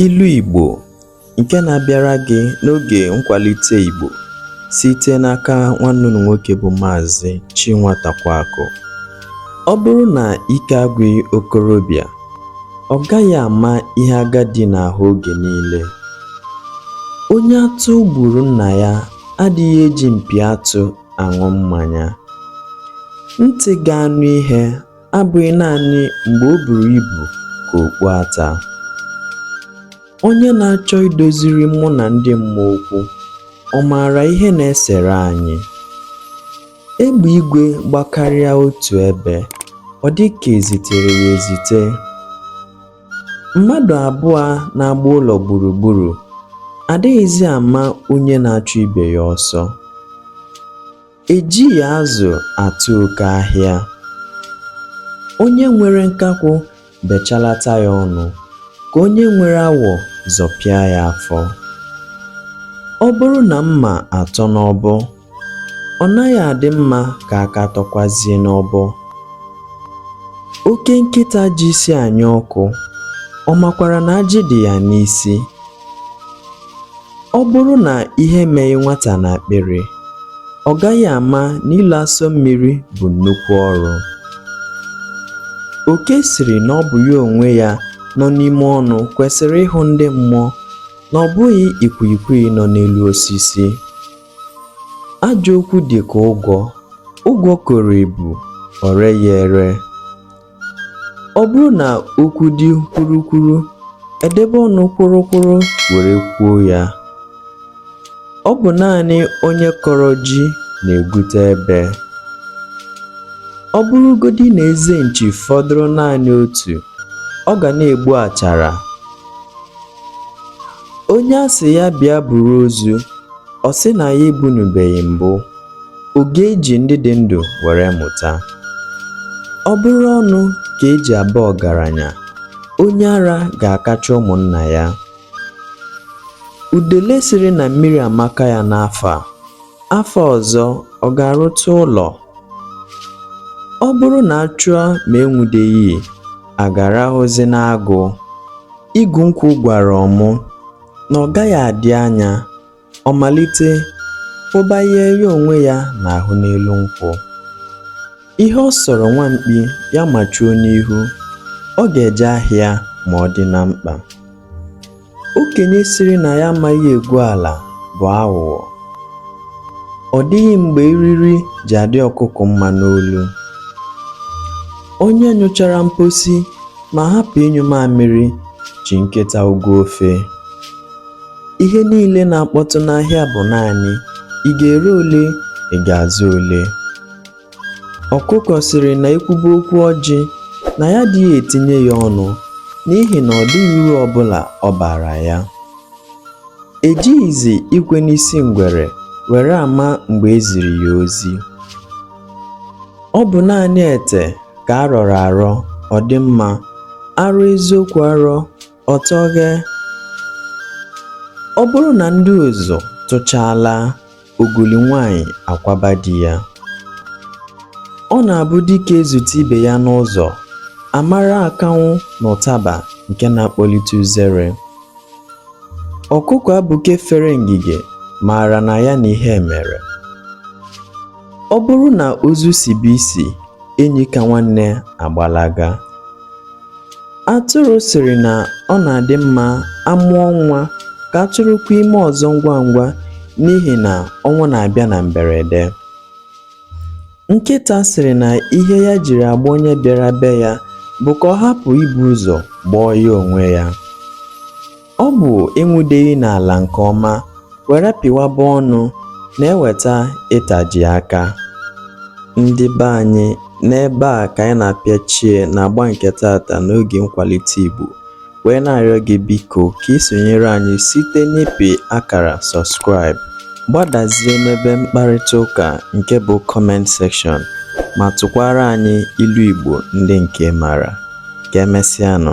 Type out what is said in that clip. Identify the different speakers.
Speaker 1: Ilu Igbo nke na-abịara gị n'oge nkwalite Igbo site n'aka nwanne unu nwoke bụ Maazị Chinwatakwaakụ. Ọ bụrụ na ike agwụghị okorobịa, ọ gaghị ama ihe agadi na-ahụ oge niile. Onye atụ gburu nna ya adịghị eji mpi atụ aṅụ mmanya. Ntị ga-anụ ihe abụghị naanị mgbe o buru ibu ka okpu ata. Onye na-achọ idoziri mụ na ndị mmụọ okwu, ọ maara ihe na-esere anyị? Egbe igwe gbakarịa otu ebe, ọ dị ka e zitere ya ezite. Mmadụ abụọ na-agba ụlọ gburugburu adịghịzi ama onye na-achụ ibe ya ọsọ. Ejighị azụ atụ oke ahịa. Onye nwere nkakwụ bechalata ya ọnụ, ka onye nwere awọ zọpịa ya afọ. Ọ bụrụ na mma atọ n'ọbọ, ọ naghị adị mma ka aka tọkwazie n'ọbọ. Oke nkịta ji isi anya ọkụ, ọ makwara na ajị dị ya n'isi. Ọ bụrụ na ihe emeghị nwata n'akpịrị, ọ gaghị ama na ilo asọ mmiri bụ nnukwu ọrụ. Oke sịrị na ọ bụ ya onwe ya nọ n'ime ọnụ kwesịrị ịhụ ndị mmụọ na ọ bụghị ikwiikwii nọ n'elu osisi. Ajọ okwu dị ka ụgwọ, ụgwọ koro ebu, o reghị ere. ọ bụrụ na okwu dị kwurukwuru e debe ọnụ kwụrụkwụrụ were kwuo ya ọ bụ naanị onye kọrọ ji na-egwute ebe ọ bụrụgodi na eze nchi fọdụrụ naanị otu ọ ga na-egbu achara onye a sị ya bịa buru ozu ọ sị na ya ebunubeghị mbụ Ọ ga-eji ndị dị ndụ were mụta. Ọ bụrụ ọnụ ka e ji aba ọgaranya, onye ara ga-akacha ụmụnna ya. Udele sịrị na mmiri amaka ya n'afọ a, afọ ọzọ ọ ga-arụta ụlọ? Ọ bụrụ na a chụọ ma e nwudeghị, a ga-arahụzi n'agụ. Igu nkwụ gwara ọmụ na ọ gaghị adị anya Ọ malite kwụbanye ya onwe ya n'ahụ n'elu nkwụ. Ihe ọ sọrọ nwa mkpi ya machuo n'ihu, ọ ga-eje ahịa ma ọ dị na mkpa. Okenye sịrị na ya amaghị egwu ala bụ aghụghọ. Ọ dịghị mgbe eriri ji adị ọkụkọ mma n'olu. Onye nyụchara mposi ma hapụ ịnyụ mamịrị ji nkịta ụgwọ ofe. Ihe niile na-akpọtụ n'ahịa bụ naanị ị ga-ere ole, ị ga-azụ ole. Ọkụkọ sịrị na ekwuba okwu ọjị, na ya adịghị etinye ya ọnụ n'ihi na ọ dịghị uru ọbụla ọ bara ya. E jighịzi ikwe n'isi ngwere were ama mgbe e ziri ya ozi. Ọ bụ naanị ete ka a rọrọ arọ, ọ dị mma, a rọọ eziokwu arọ ọ tọghe. Ọ bụrụ na ndị ụzụ tụchaala ogoli nwaanyị akwaba di ya, ọ na-abụ dike ezute ibe ya n'ụzọ, amara akanwụ na ụtaba nke na-akpọlite uzere. Ọkụkọ abụke fere ngige maara na ya na ihe mere. Ọ bụrụ na ozu sibe isi, enyi ka nwanne agbalaga. Atụrụ sịrị na ọ na-adị mma amụọ nwa ka atụrụkwa ime ọzọ ngwa ngwa n'ihi na ọnwụ na-abịa na mberede. Nkịta sịrị na ihe ya jiri agbọ onye bịara be ya bụ ka ọ hapụ ibu ụzọ gbọọ ya onwe ya. Ọ bụ enwudeghị n'ala nke ọma were pịwaba ọnụ na-eweta ịtaji aka. Ndị be anyị n'ebe a ka anyị na-apịachie n'agba nke tata n'oge nkwalite Igbo wee na-arịọ gị biko ka ị sonyere anyị site n'ịpị akara subscribe gbadazie n'ebe mkparịta ụka nke bụ comment section ma tụkwara anyị ilu Igbo ndị nke ị maara. Ka emesịanụ.